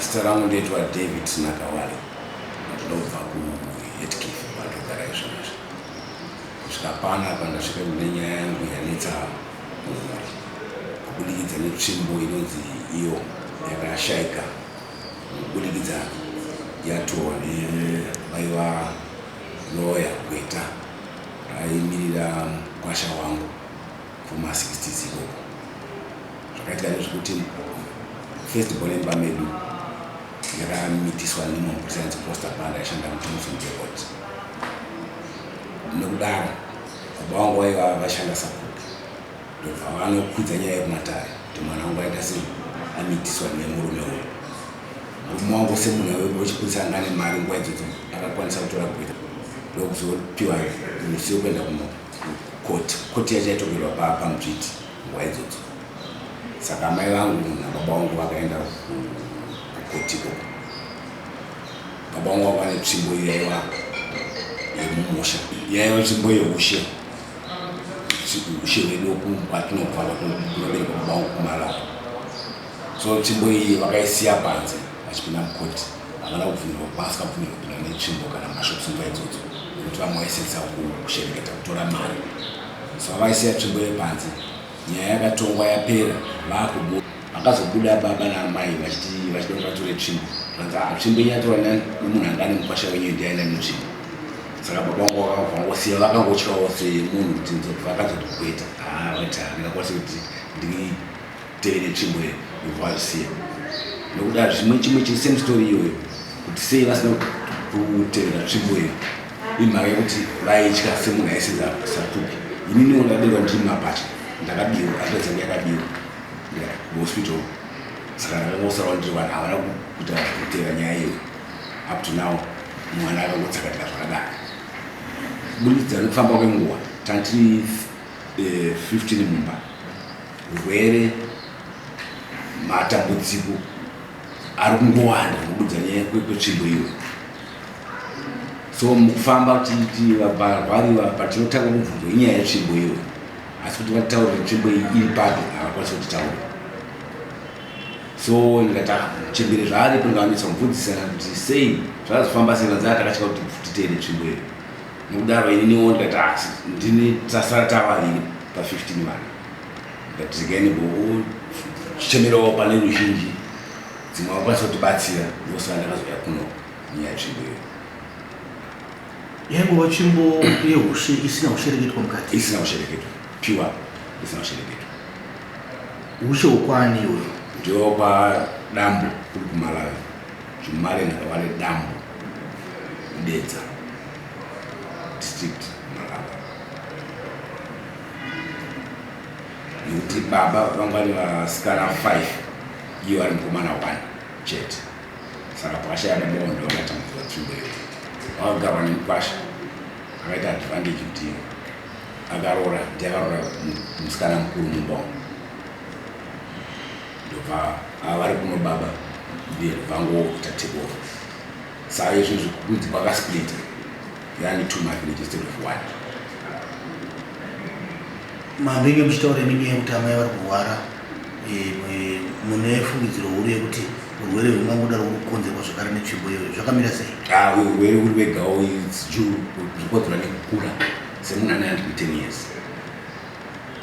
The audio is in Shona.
Zita rangu ndoitwa David Sinakawale, ndinobva kuHeathcliff kwandogara izvozvi. Kusvika pano apa ndasvika kune nyaya yangu yanetsa mumhuri kubudikidza netsvimbo inonzi iyo yakashaika kubudikidza yatorwa nebaiwa loya gweta raimirira mukwasha wangu Kuma 60s ikoko zvakaitika ndezvekuti first born imba medu yakamitiswa nemumwe mupurisa anzi Costa Banda aishanda muJohnson Depot. Nokudaro baba vangu vaiva vashanda sakupi ndobva vanokwidza nyaya yekumatare kuti mwana wangu aita sei amitiswa nemurume uyu. Murume wangu semunhu wechipurisa anga ane mari nguva idzodzo akakwanisa kutora gweta ndokuzopiwa musi wekuenda kuno kukoti koti yachaitogerwa pamudzviti nguva idzodzo saka amai vangu nababa vangu vakaenda kukotiko baba vangu vava vane tsvimbo iyo yaiva yemumusha yaiva tsvimbo yeushe ushe hwedu kwatinobva kwatinobereka baba vangu kumalawi so tsvimbo iyi vakaisiya panze vachipinda mukoti havana kubvumirwa kuba asi kabvumirwa kupinda netsvimbo kana mashops nguva idzodzo nekuti vamwe vaisetsa kushereketa kutora mari so vavaisiya tsvimbo yepanze nyaya yakatongwa yapera vakubu vakazobuda baba naamai vachiti vachida kuti vatore tsvimbo vanzi ah, tsvimbo iyi yatorwa nemunhu anga ane mukwasha wenyu ndiaina mutsvimbo saka baba vangu vakavangosiya vakangotyawo semunhu kuti vakazotogweta haa ah, vaita ndingakwasi kuti ndiri tevere tsvimbo ye vasiya nokuda zvimwe chimwe chiri same story iyoyo kuti sei vasina kutevera tsvimbo iyo imhaka yekuti vaitya semunhu aisenza satuki ininiwo ndakadewa ndiri mabhatya ndakabiwa atatsa ndiyakabiwa hospital saka ndakangosarawo ndiri vanhu havana kuita kutevera nyaya iyo up to now mwana akangotsakatika zvakadaro kubudikidza nekufamba kwenguva tati 15 eh, mumba Hurwere, matambudziko ari kungowanda nokudza nyaya kwetsvimbo iyo so mukufamba tichivarwariwa patinotanga kubvunzo inyaya yetsvimbo iyo asi kuti vatitaure netsvimbo iyi iri papi havakwanisa kutitaura so ndikati ah, chembere zvaaripo ndikaanetsa kumubvunzisana kuti sei zvazofamba sei vanzaa takatya kuti titeere tsvimbo iyo Nekudaro ini niwo ndikati asi ndini tasara tavaviri pa 15 vana ndikati regai nimbo chichemerawo pane ruzhinji dzimwe vakwanisa kutibatsira ndosaka ndakazouya kuno nyaya tsvimbo iyo yaingova tsvimbo yehushe isina kushereketwa mukati isina kushereketwa pure isina kushereketwa hushe hukwaani iyoyo ndiopa dambo kuri kumalawi Jumaland rava nedambo muDedza district muRarara nekuti baba vanga vane vasikana 5 iye vari mukomana 1 chete saka pakashaya baba vanhu ndovakatambudzira tsvimbo iyo vakagarwa nemukwasha akaita advantage kuti akaroora ndiye akaroora musikana mukuru mumba umu ndobva ava vari kuno baba ndiye vangoita take over saa izvozvo kunzi kwakasplita yani two mavillages instead of one mambenge muchitaura imi nyaya yekuti amai vari kurwara eh, mwe- mune fungidziro huru yekuti urwere hwemangoda ruri kukonzerwa zvakare netsvimbo iyoyo zvakamira sei Ah, urwere uri wegawo zvikonzerwa nekukura semunhu ane 110 years